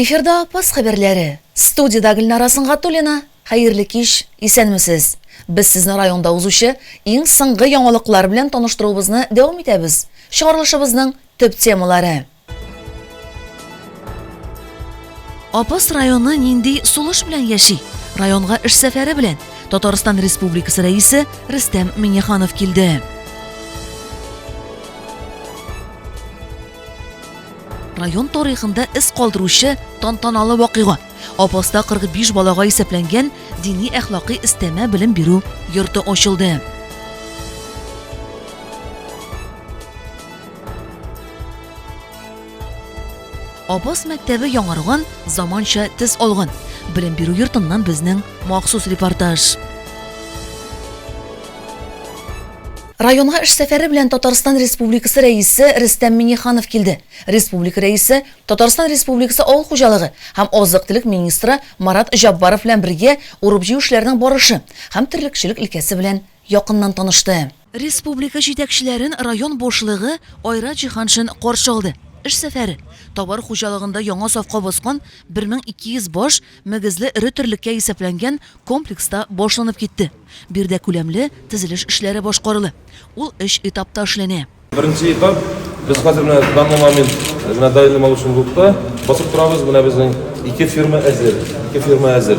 Эфирда Апас хәбәрләре. Студиядә Гөлнара Сынгатуллина. Хәерле кич, исәнмесез. Без сезне районда узучы иң соңгы яңалыклар белән таныштыруыбызны дәвам итәбез. Чыгарылышыбызның төп темалары. Апас районы нинди сулыш белән яши? Районга эш сәфәре белән Татарстан Республикасы рәисе Рөстәм Миңнеханов килде. Район тарихында эз калдыручы тантаналы вакыйга. Апаста 45 балага исәпләнгән дини әхлакый истәмә белем бирү йорты ачылды. Абаз мәктәбе яңарган, заманча төс алган. Белем бирү йортыннан безнең махсус репортаж. Районга эш сәфәре белән Татарстан Республикасы Рәисе Рөстәм Миңнеханов килде. Республика Рәисе, Татарстан Республикасы авыл хуҗалыгы һәм азык-төлек министры Марат Җаббаров белән бергә урып-җыю эшләренең барышы һәм терлекчелек өлкәсе белән якыннан танышты. Республика җитәкчеләрен район башлыгы Айрат Җиһаншин каршы алды. Эш сәфәре, товар хуҗалыгында яңа сафка баскан 1200 баш мөгезле эре терлеккә исәпләнгән комплекста башланып китте. Биредә күләмле төзелеш эшләре башкарыла. Ул өч этапта эшләнә. Беренче этап, без хәзер менә данный момент менә даими малышны юкта басып торабыз, менә безнең ике ферма әзер, ике ферма әзер.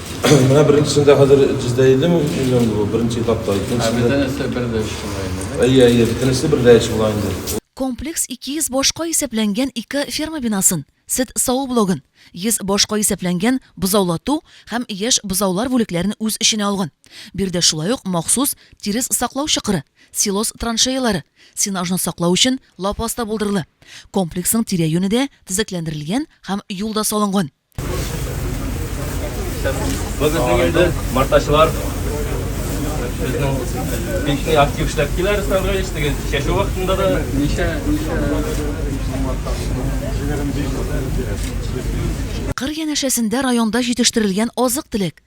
Менә беренчесендә хәзер җиздә елы миллион булу, беренче этапта. Ә бөтенесе бер дә эш була инде. Әйе, әйе, бөтенесе бер дә эш була инде. Комплекс 200 башка исәпләнгән ике ферма бинасын, сөт саву блогын, 100 башка исәпләнгән бозаулату һәм яшь бозаулар бүлекләрен үз эченә алган. Биредә шулай ук махсус тирес саклау чокыры, силос траншеялары, сенажны саклау өчен лапас та булдырыла. Комплексның тирә-юне дә төзекләндерелгән һәм юл да салынган. Бүгеннең инде мартачылар безнең бик актив эшләп килә Руслан Равилович, теге чәчү вакытында да ничә ничә Кыр янәшәсендә районда җитештерелгән азык-төлек,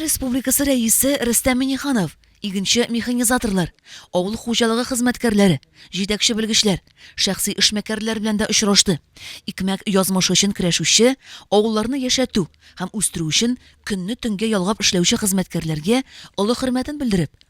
Республикасы Рәисе Рөстәм Миңнеханов, игенче механизаторлар, авыл хуҗалыгы хезмәткәрләре, җитәкче белгечләр, шәхси эшмәкәрләр белән дә очрашты. Икмәк язмышы өчен көрәшүче, авылларны яшәтү һәм үстерү өчен көнне-төнгә ялгап эшләүче хезмәткәрләргә олы хөрмәтен белдереп,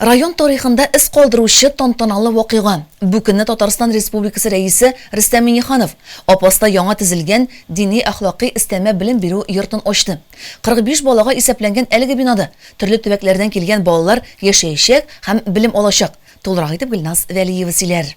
Район тарихында эз калдыручы тантаналы вакыйга. Бу көнне Татарстан Республикасы рәисе Рөстәм Миңнеханов Апаста яңа төзелгән дини әхлакый өстәмә белем бирү йортын ачты. 45 балага исәпләнгән әлеге бинада төрле төбәкләрдән килгән балалар яшәячәк һәм белем алачак. Тулырак итеп Гөлназ Вәлиева сөйләр.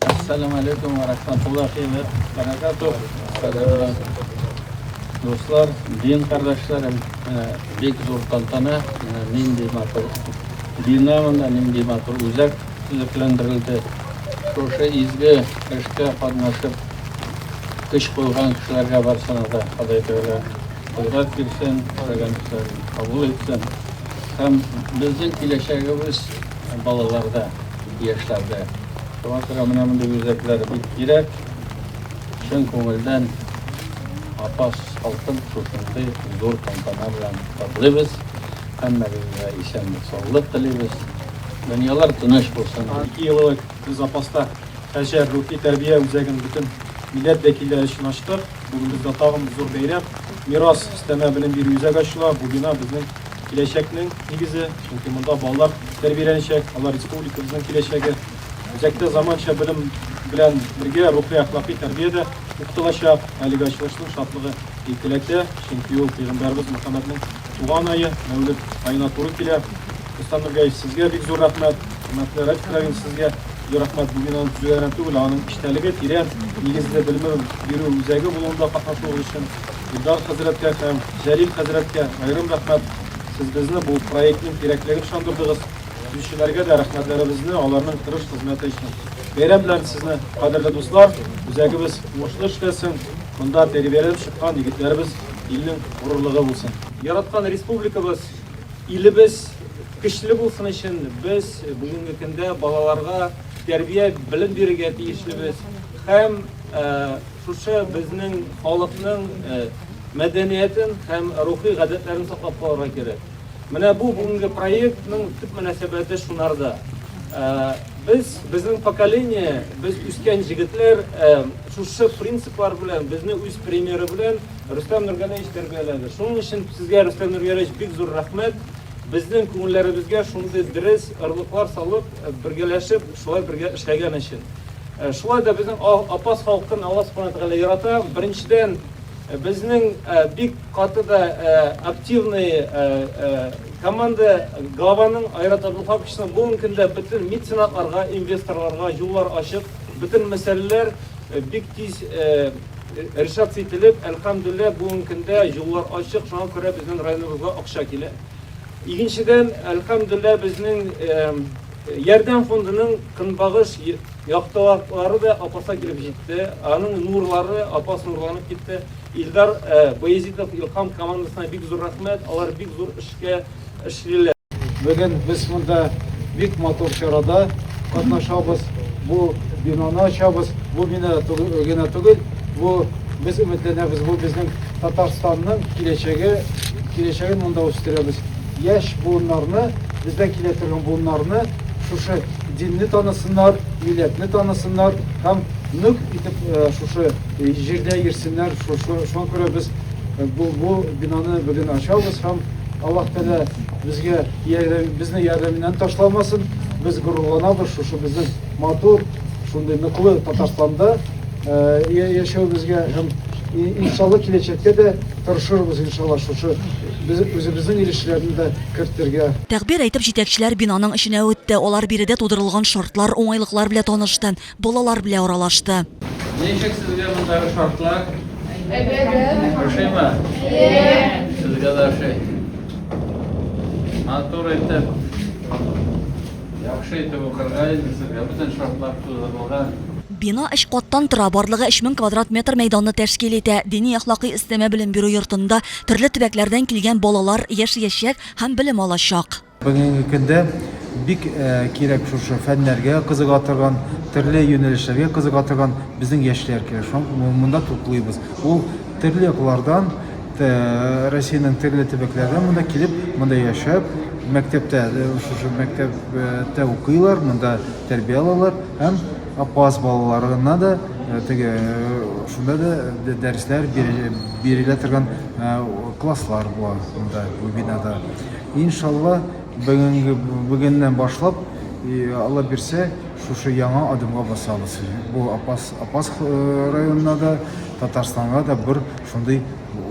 Ассалам алейкум ва рахматуллахи ва баракатух. Дуслар, дин кардәшләрем, бик зур тантана, нинди матур бина монда, нинди матур үзәк төзекләндерелде. Шушы изге эшкә катнашып, көч куйган кешеләргә барсына да Ходай Тәгалә кодрәт бирсен, теләгән эшләрен кабул итсен. Һәм безнең киләчәгебез Балаларда, яшьләрдә. Шуңа күрә менә мондый үзәкләр бик кирәк. Чын күңелдән Апас халкын шушындый зур тантана белән котлыйбыз. Һәммәгезгә исәнлек-саулык телибез. Дөньялар тыныч булсын. Ике ел элек без Апаста Хаҗәр рухи тәрбия үзәген бөтен милләт вәкилләре өчен ачтык. Бүген бездә тагын зур бәйрәм, Мирас өстәмә белем бирү үзәге ачыла. Бу бина безнең Киләчәкнең нигезе, чөнки монда балалар тәрбияләнәчәк, алар республикабызның киләчәге. Үзәктә заманча белем белән бергә рухи-әхлакый тәрбия дә укытылачак. Әлеге ачылышның шатлыгы икеләтә, чөнки ул пәйгамбәребез Мөхәммәднең туган ае, Мәүлид аена туры килә. Рөстәм Нургәев, сезгә бик зур рәхмәт. Хөрмәтле Радик Равин, сезгә зур рәхмәт. Бу бинаны төзүдә генә түгел, ә аның эчтәлеге, тирән нигезле белем бирү үзәге булуында катнашуыгыз өчен. Илдар хәзрәткә һәм Җәлил хәзрәткә аерым рәхмәт, сез безне бу проектның кирәклеген ышандырдыгыз. Төзүчеләргә дә рәхмәтләребезне аларның тырыш хезмәте өчен. Бәйрәм белән сезне, кадерле дуслар! Үзәгебез уңышлы эшләсен, монда тәрбияләнеп чыккан егетләребез илнең горурлыгы булсын! Яраткан республикабыз, илебез көчле булсын өчен без бүгенге көндә балаларга тәрбия, белем бирергә тиешлебез һәм, Шушы безнең халыкның мәдәниятен һәм рухи гадәтләрен саклап калырга кирәк. Менә бу бүгенге проектның төп мөнәсәбәте шунарда. Без, безнең поколение, без үскән җегетләр шушы принциплар белән, безне үз примеры белән Рөстәм Нургәләевич тәрбияләде. Шуның өчен сезгә, Рөстәм Нургәләевич, бик зур рәхмәт. Безнең күңелләребезгә шундый дөрес орлыклар салып, бергәләшеп шулай бергә эшләгән өчен. Шулай да безнең Апас халкын Алла Субхана Тәгалә ярата. Беренчедән, безнең бик каты да активный команда Гаваның аэроторлы фабрикасының бүген көндә бөтен меценатларга, инвесторларга юллар ачып, бөтен мәсьәләләр бик тиз решаться ителеп, әлхәмдүлилләһ, бүген көндә юллар ачык, шуңа күрә безнең районыбызга акча килә. Икенчедән, әлхәмдүлләһ, безнең Ярдәм фондының көнбагыш яктылаклары да Апаска килеп җитте, аның нурлары Апас нурланып китте. Илдар Баязитов, Илхам командасына бик зур рәхмәт, алар бик зур эшкә эшлиләр. Бүген без монда бик матур чарада катнашабыз, бу бинаны ачабыз, бу бина генә түгел, бу без өметләнәбез, бу безнең Татарстанның киләчәге, киләчәген монда үстерәбез. Яшь буыннарны, бездән килә торган буыннарны шушы динне танысыннар, милләтне танысыннар һәм нык итеп э, шушы э, җирдә йөрсеннәр. Шушы шуңа күрә без э, бу, бу бинаны бүген ачабыз һәм Аллаһ Тәгалә безгә ярдәм, безне ярдәменнән ташламасын. Без горурланабыз шушы безнең матур, шундый ныклы Татарстанда яшәүебезгә һәм Иншалла киләчәктә дә тырышырбыз иншалла шушы үзебезнең ил эшләрен дә кертергә. Тәгъбир әйтеп җитәкчеләр бинаның эченә үтте, алар биредә тудырылган шартлар, уңайлыклар белә танышты, балалар белә аралашты. Ничек сезгә мондагы шартлар? Ошыймы? Сезгә дә ошый. Матур итеп. Яхшы итеп укырга инде сезгә бөтен шартлар тудырылган. Бина өч каттан тора, барлыгы 3000 квадрат метр мәйданны тәшкил итә. Дини-әхлакый өстәмә белем бирү йортында төрле төбәкләрдән килгән балалар яшәячәк һәм белем алачак. Бүгенге көндә бик кирәк шушы фәннәргә кызыга торган, төрле юнәлешләргә кызыга торган безнең яшьләр кирәк. Шуңа күрә монда туплыйбыз. Ул Төрле яклардан, Россиянең төрле төбәкләреннән монда килеп, монда яшәп, мәктәптә, шушы мәктәптә укыйлар, монда тәрбия алалар һәм апас балаларына да теге шунда да дәресләр бирелә торган класслар була монда бу бинада. Иншалла, бүгенге бүгеннән башлап, Алла бирсә, шушы яңа адымга басабыз. Бу апас Апас районына да, Татарстанга да бер шундый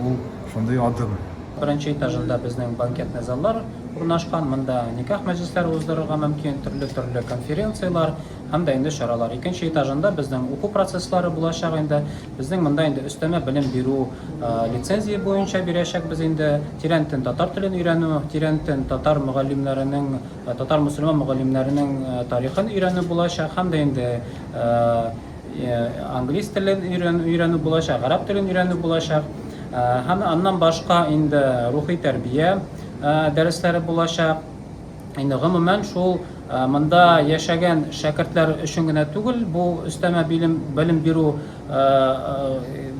ул шундый адым. Беренче этажында безнең банкетный заллар урнашкан. Монда никах мәҗлесләре уздырырга мөмкин, төрле-төрле конференцияләр һәм дә инде чаралар. Икенче этажында безнең уку процесслары булачак инде. Безнең монда инде өстәмә белем бирү лицензия буенча бирәчәкбез инде. Тирәнтен татар телен өйрәнү, тирәнтен татар мөгаллимнәренең Татар-мөселман мөгаллимнәренең тарихын өйрәнү булачак һәм дә инде английс телен өйрәнү булачак, гарәп телен өйрәнү булачак. Һәм аннан башка инде рухи тәрбия дәресләре булачак. Инде гомумән шул монда яшәгән шәкертләр өчен генә түгел, бу өстәмә билем, белем бирү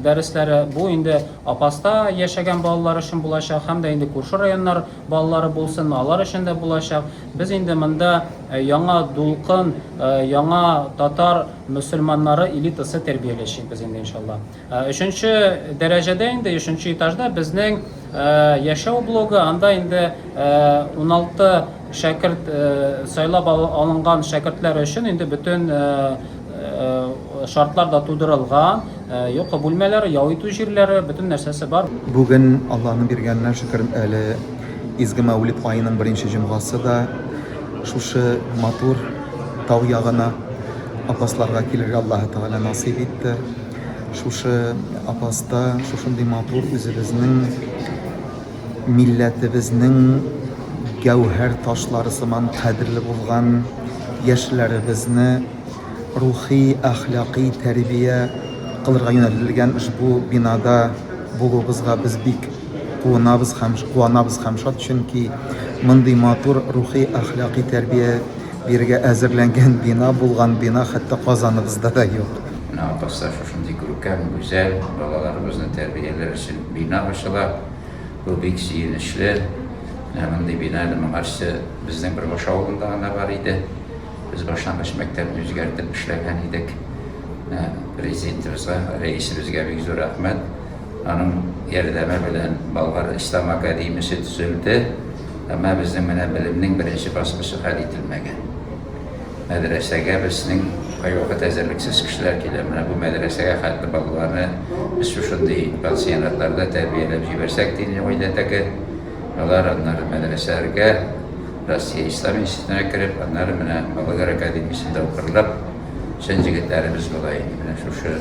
дәресләре бу инде Апаста яшәгән балалар өчен булачак һәм дә инде күрше районнар балалары булсынмы, алар өчен дә булачак. Без инде монда яңа дулкын, яңа татар мөселманнары элитасы тәрбияләячәкбез инде иншалла. Өченче дәрәҗәдә инде, өченче этажда безнең яшәү блогы, анда инде 16 шәкерт сайлап алынган шәкертләр өчен инде бөтен Шартлар да тудырылган, йокы бүлмәләре, ял итү җирләре, бөтен нәрсәсе бар. Бүген, Аллаһның биргәненә шөкер, әле изге Мәүлид аеның беренче җомгасы да. Шушы матур тау ягына Апасларга килергә Аллаһы Тәгалә насыйп итте. Шушы Апаста, шушындый матур үзебезнең. милләтебезнең гәүһәр ташлары сыман кадерле булган яшьләребезне рухи-әхлакый тәрбия кылырга юнәлтелгән ошбу бинада булуыбызга без бик куынабыз һәм куанабыз һәм шат, чөнки мондый матур рухи-әхлакый тәрбия бирергә әзерләнгән бина, булган бина хәтта Казаныбызда да юк. Менә атасы шушындый күркәм, гүзәл балаларыбызны тәрбияләр өчен Бина ачыла, бу бик сөенечле. Менә мондый бина әле моңарчы безнең Бөрбаш авылында гына бар иде. Без башлангыч мәктәпне үзгәртеп эшләгән идек. Менә Президентыбызга, Рәисебезгә бик зур рәхмәт. Аның ярдәме белән Болгар ислам академиясе төзелде. Әмма безнең менә белемнең беренче баскычы хәл ителмәгән. Мәдрәсәгә безнең кайвакыт әзерлексез кешеләр килә. Менә бу мәдрәсәгә хәтле балаларны без шушындый пансионатларда тәрбияләп җибәрсәк, динле гаиләдәге алар, аннары мәдрәсәләргә, Россия Ислам институтына кереп, аннары менә Балыгыр академиясендә укырлык. Чын җегетләребез була инде. Менә шушы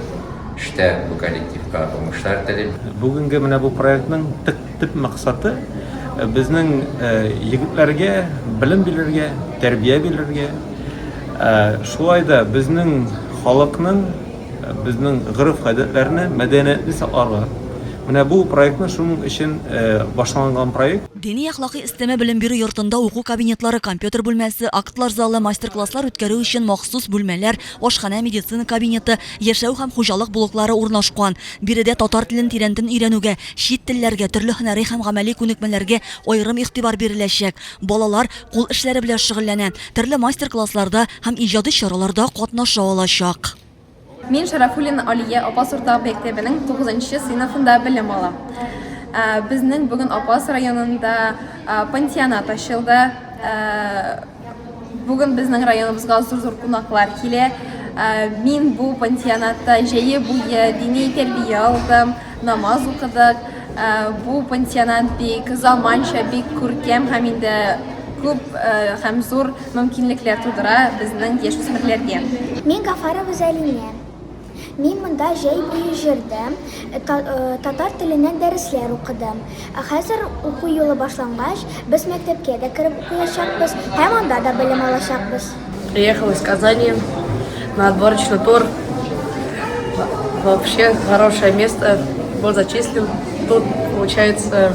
эштә бу коллективка уңышлар телим. Бүгенге менә бу проектның төп Төп максаты, безнең егетләргә белем бирергә, тәрбия бирергә. Шулай да безнең халыкның, безнең гореф-гадәтләрне, мәдәниятне сакларга. Менә бу проектны шуның өчен башланган проект. Дини-әхлакый өстәмә белем бирү йортында уку кабинетлары, компьютер бүлмәсе, актлар залы, мастер-класслар үткәрү өчен махсус бүлмәләр, ашханә, медицина кабинеты, яшәү һәм хуҗалык блоклары урнашкан. Биредә татар телен тирәнтен өйрәнүгә, чит телләргә, төрле һөнәри һәм гамәли күнекмәләргә аерым игътибар биреләчәк. Балалар кул эшләре белән шөгыльләнә, төрле мастер-классларда һәм иҗади чараларда катнаша алачак. Мин Шәрәфуллина Алия Апас урта мәктәбенең тугызынчы сыйныфында белем алам. Безнең бүген Апас районында пансионат ачылды. Бүген безнең районыбызга зур-зур кунаклар килә. Ә, Мин бу пансионатта җәе буе дини тәрбия алдым, намаз укыдык. Ә, Бу пансионат бик заманча, бик күркәм һәм инде күп ә, һәм зур мөмкинлекләр тудыра безнең яшүсмерләргә. Мин Гафарова Зәлия. Мин монда җәй буе җырдым, татар теленнән дәресләр укыдым. Ә хәзер, уку елы башлангач, без мәктәпкә дә кереп укыячакбыз һәм анда да белем алачакбыз. Приехал из Казани на отборочный тур. Вообще хорошее место. Был зачислен. Тут получается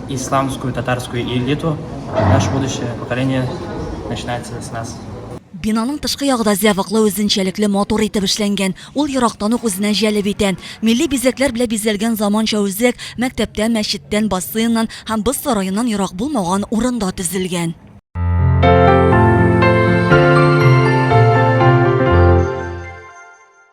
Исламскую, татарскую элиту, наш будущее поколение начинается с нас. Бинаның тышкы ягы да зәвыклы, үзенчәлекле, матур итеп эшләнгән. Ул ерактан ук үзенә җәлеп итә. Милли бизәкләр белән бизәлгән заманча үзәк мәктәптән, мәчеттән, бассейннан һәм боз сараеннан ерак булмаган урында төзелгән.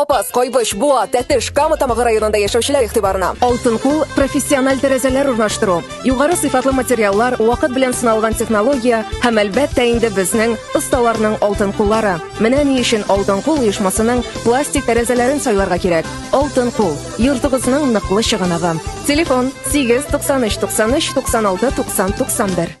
Апас, Кайбыч, Буа, Тәтеш, Кама Тамагы районында яшәүчеләр игътибарына. Алтын кул профессиональ тәрәзәләр урнаштыру, югары сыйфатлы материаллар, вакыт белән сыналган технология һәм әлбәттә инде безнең осталарның алтын куллары. Менә ни өчен Алтын кул оешмасының пластик тәрәзәләрен сайларга кирәк. Алтын кул, йортыгызның ныклы чыганагы. Телефон 8 93 93 96 90 91.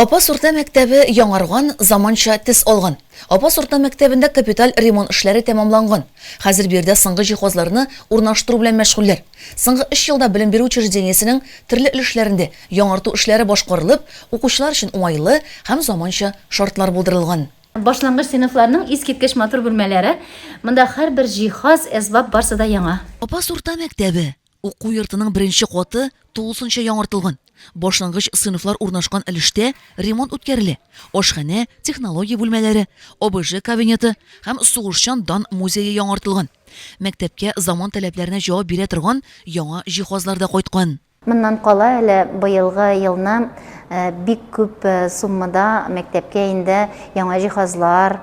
Апас урта мәктәбе яңарган, заманча тез алган. Апас урта мәктәбендә капиталь ремонт эшләре тәмамланган. Хәзер биредә соңгы җиһазларны урнаштыру белән мәшгульләр. Соңгы 3 елда белем бирү учреждениесенең төрле өлешләрендә яңарту эшләре башкарылып, укучылар өчен уңайлы һәм заманча шартлар булдырылган. Башлангыч сыйныфларның искиткеч матур бүлмәләре, монда һәрбер җиһаз, әсбап барсы да яңа. Апас урта мәктәбе, уку йортының беренче каты тулысынча яңартылган. Башлангыч сыйныфлар урнашкан өлештә ремонт үткәрелә, ашханә, технология бүлмәләре, ОБЖ кабинеты һәм сугышчан дан музее яңартылган. Мәктәпкә заман таләпләренә җавап бирә торган яңа җиһазлар да кайткан. Моннан кала әле быелгы елны бик күп суммада мәктәпкә инде яңа җиһазлар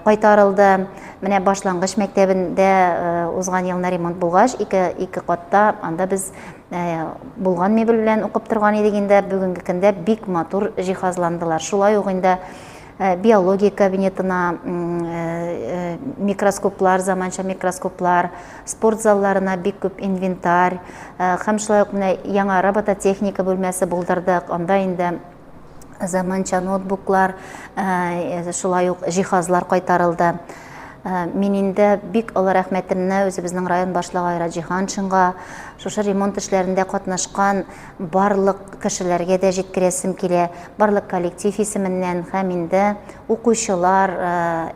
кайтарылды. Менә башлангыч мәктәбендә узган елны ремонт булгач, ике, ике катта анда без булган мебель белән укып торган идек инде. Бүгенге көндә бик матур җиһазландылар. Шулай ук инде Э, биология кабинетына э, э, микроскоплар заманча микроскоплар спорт залларына бик күп инвентарь һәм шулай ук менә яңа робототехника бүлмәсе булдырдык анда инде заманча ноутбуклар шулай ук җиһазлар кайтарылды мин инде бик олы рәхмәтемне үзебезнең район башлыгы айра җиһаншинга шушы ремонт эшләрендә катнашкан барлык кешеләргә дә җиткерәсем килә, барлык коллектив исеменнән һәм инде укучылар,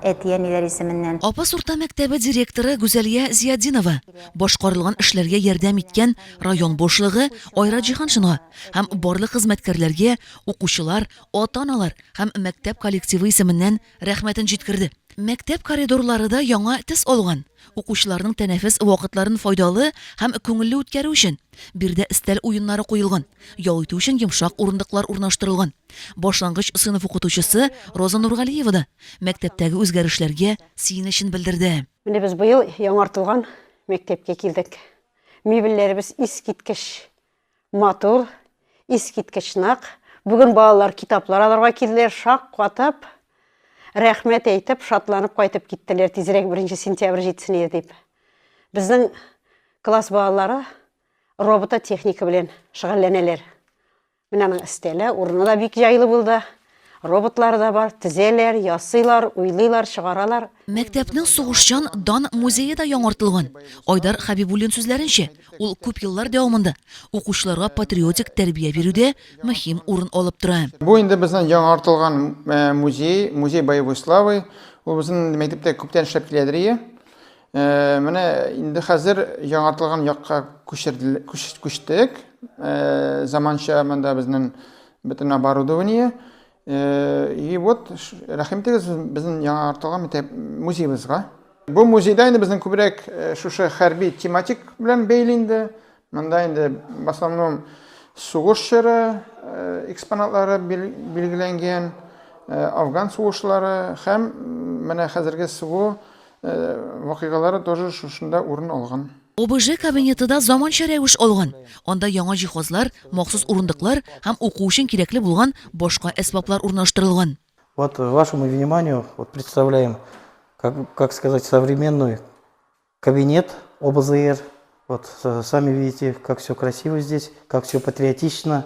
әти-әниләр исеменнән. Апас урта мәктәбе директоры Гүзәлия Зиятдинова башкарылган эшләргә ярдәм иткән район башлыгы Айрат Җиһаншинга һәм барлык хезмәткәрләргә, укучылар, ата-аналар һәм мәктәп коллективы исеменнән Рәхмәтен җиткерде. Мәктәп коридорлары да яңа төс алган. Укучыларның тәнәфес вакытларын файдалы һәм күңелле үткәрү өчен, биредә өстәл уеннары куелган, ял итү өчен йомшак урындыклар урнаштырылган. Башлангыч сыйныф укытучысы Роза Нургалиева да мәктәптәге үзгәрешләргә сөенечен белдерде. Менә без быел яңартылган мәктәпкә килдек. Мебельләребез искиткеч! Матур, искиткеч нык. Бүген балалар китаплар алырга килделәр, шаккатып, рәхмәт әйтеп, шатланып кайтып киттеләр, тизрәк 1 сентябрь җитсен иде дип. Безнең класс балалары робототехника белән шөгыльләнәләр. Менә аның өстәле, урыны да бик җайлы булды. Роботлар да бар, тезәләр, ясыйлар, уйлыйлар, чыгаралар. Мәктәпнең сугышчан дан музее да яңартылган. Айдар Хәбибуллин сүзләренчә, ул күп еллар дәвамында укучыларга патриотик тәрбия бирүдә мөһим урын алып тора. Бу инде безнең яңартылган музей, музей боевой славы. Ул безнең инде мәктәптә күптән эшләп киләдер ие. Менә инде хәзер яңартылган якка күчерде, күчтек. Заманча монда безнең Бөтен оборудование. И вот, рәхим итегез безнең яңа артылган мәктәп музеебызга. Бу музейда инде безнең күбрәк шушы хәрби тематик белән бәйле инде. Монда инде в основном сугыш чоры экспонатлары билгеләнгән, афган сугышлары һәм менә хәзерге СВО вакыйгалары тоже шушында урын алган. ОБЖ кабинеты да заманча рәвеш алган. Анда яңа җиһазлар, махсус урындыклар һәм уку өчен кирәкле булган башка әсбаплар урнаштырылган. Вот вашему вниманию вот представляем, как, как сказать, современный кабинет ОБЗР. Вот сами видите, как все красиво здесь, как все патриотично.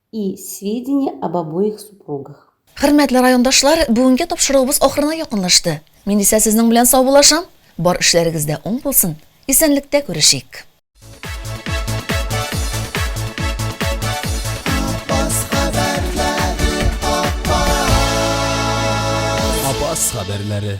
и сведения об обоих супругах. Хөрмәтле райондашлар, бүгенге тапшыруыбыз ахырына якынлашты. Мин исә сезнең белән саубуллашам. Бар эшләрегез дә уң булсын. Исәнлектә күрешик. Апас хәбәрләре.